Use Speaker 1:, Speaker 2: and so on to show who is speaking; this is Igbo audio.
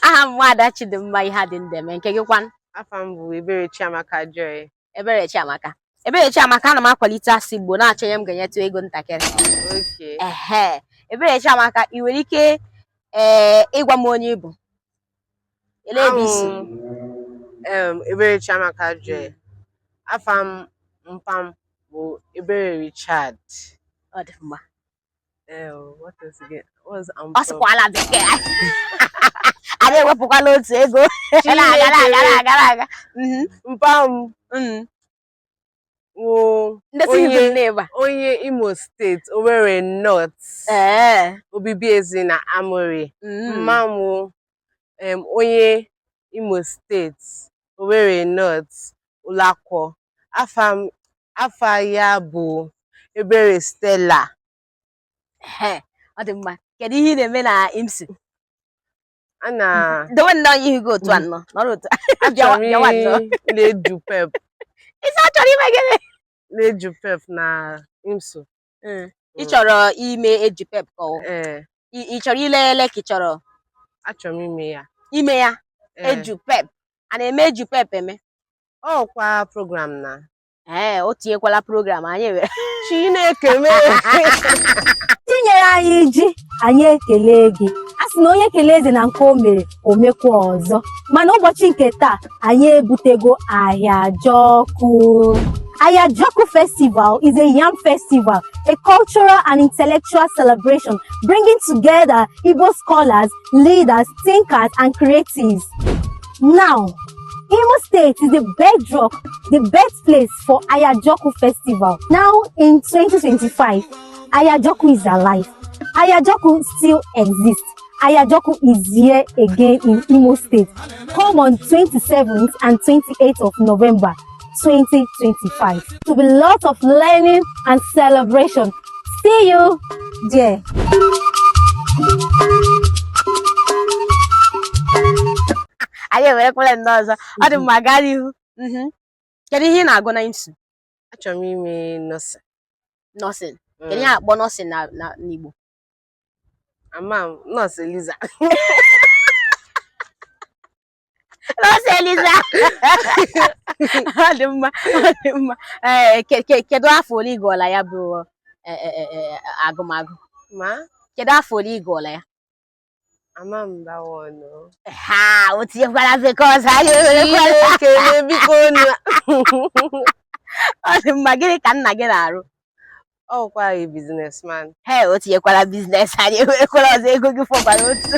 Speaker 1: aha m nwaada Chidimma Iheadindueme nke gị kwan afa m bụ
Speaker 2: Ebere Chiamaka Joy Ebere
Speaker 1: Chiamaka Ebere Chiamaka ana m akwalite asụsụ Igbo na-achọ onye m ga-enyetụ ego ntakịrị ehe
Speaker 2: Ebere Chiamaka
Speaker 1: ị nwere ike ee eh, ịgwa m onye ị bụ elee ebe i
Speaker 2: si Ebere Chiamaka Joy afa mpa m bụ Ebere Richard ọ dị
Speaker 1: mma Eh,
Speaker 2: oh, what else again? What's ọ Ampo? sụkwala
Speaker 1: bekee anyị ewepụkwala otu ego na-aga na-aga na-aga na-aga Mhm,
Speaker 2: Mpa m. mhm. Wo. ndị si Onye- Igbo na-eba Onye Imo State, Owerri North, ee Obibiezena Amaorie. mhm. Mma m wụ, em, onye Imo State, Owerri North, Ulakwọ. Afa m afa ya bụ Ebere Stella. Ehe,
Speaker 1: ọ dị mma kedu ihe ị na-eme na IMSU A na dowe nnọọ ihe ihu gị otu
Speaker 2: a
Speaker 1: nnọọ nọrọ otu a. achọrọ m bịawa nnọọ. ile
Speaker 2: JUPEB ị sị ị chọrọ
Speaker 1: ime gịnị ile JUPEB
Speaker 2: na IMSU. Mm. ị
Speaker 1: chọrọ ime JUPEB ka ọ ee ị ị chọrọ ile ele ka ị chọrọ achọrọ m
Speaker 2: ime ya ime ya
Speaker 1: Ee. JUPEB a na-eme JUPEB eme ọ
Speaker 2: kwa program na ee o
Speaker 1: tinyekwala program anyị were Chineke mee
Speaker 3: i nyere anyị ji anyị ekelee gị a sị na onye kelee eze na nke o mere o mekwa ọzọ mana ụbọchị nke taa anyị ebutego Ahịajọkụ Ahịajọkụ Festival is a yam festival, a cultural and intellectual celebration bringing together Igbo scholars, leaders, thinkers, and creatives. Now, Imo State is the bedrock, the birthplace for Ahịajọkụ Festival. Now, in 2025, Ahịajọkụ is alive. Ahịajọkụ still exists. Ahịajọkụ is here again in Imo State. Come on 27th and 28th of November 2025. It will be lots of learning and celebration. See you
Speaker 1: there. anyị ewerekwala ndị ọzọ ọ dị mma gaa n'ihu Mhm. kedu ihe ị na-agụ na IMSU achọrọ m
Speaker 2: ime nursing
Speaker 1: nursing kedu ihe a akpọ nursing na na
Speaker 2: n'Igbo ama m nurse Eliza
Speaker 1: nurse Eliza ọ dị mma ọ dị mma ee ke- ke- kedu afọ ole ị gụọla ya bụ e, e, e, e, agụmagụ ma
Speaker 2: kedu afọ ole ị
Speaker 1: gụọla ya
Speaker 2: ama m bawa ọnụ ha
Speaker 1: o tinyekwara because anyị ewerekwara ekele
Speaker 2: biko unu ọ
Speaker 1: dị mma gịnị ka nna gị na-arụ
Speaker 2: ọkwa anyị businessman
Speaker 1: he o tinyekwara business anyị ewerekwara
Speaker 2: ọzọ
Speaker 1: ego gị fọbara otu